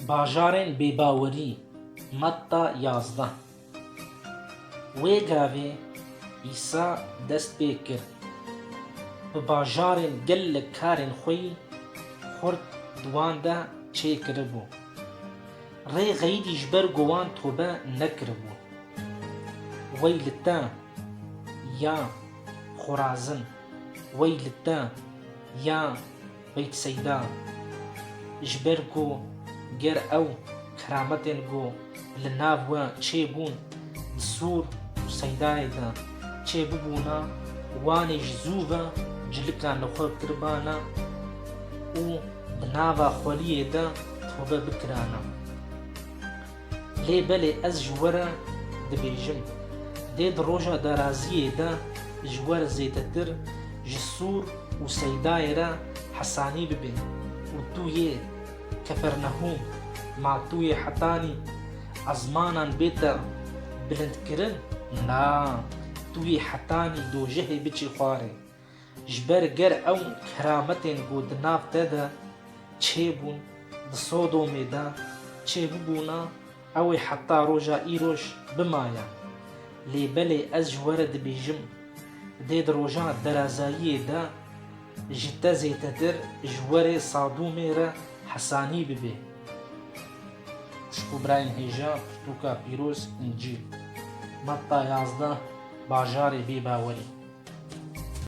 Bajarên bêbawerî, Matta yazdeh Wê gavê Îsa dest pê kir bi bajarên gelek karên xwe yî xurt di wan de çê kiribû. Rê xeylî ji ber ku wan tobe nekiribû. Wey li te ya Xorazin, wey li te ya Beyt Seyda, Ji ber ku ger ew kerametên ku li nav we çêbûn di Sûr û Seydayê de çêbibûna, wanê ji zû ve cilika li xwe kiribana û di nava xweliyê de tobe bikirana. Lê belê ez ji we re dibêjim, dê di roja daraziyê de ji we re zêdetir ji Sûr û Seydayê re hesanî bibe û tu yê Kefernehûm, ma tu yê hetanî ezmanan bête bilindkirin? Na, tu yê hetanî dojehê biçî xwarê. Ji ber ger ew kerametên ku di nav te de çêbûn di Sodomê de çêbibûna ew ê heta roja îroj bimaye. Lê belê ez ji we re dibêjim, dê di roja derazayiyê de ji te zêtetir ji werê Sadomê re hesanî bibe. Xwişk û birayên hêja pirtûka pîroz Încîl, Metta yazdeh, Bajarê bêbawerî.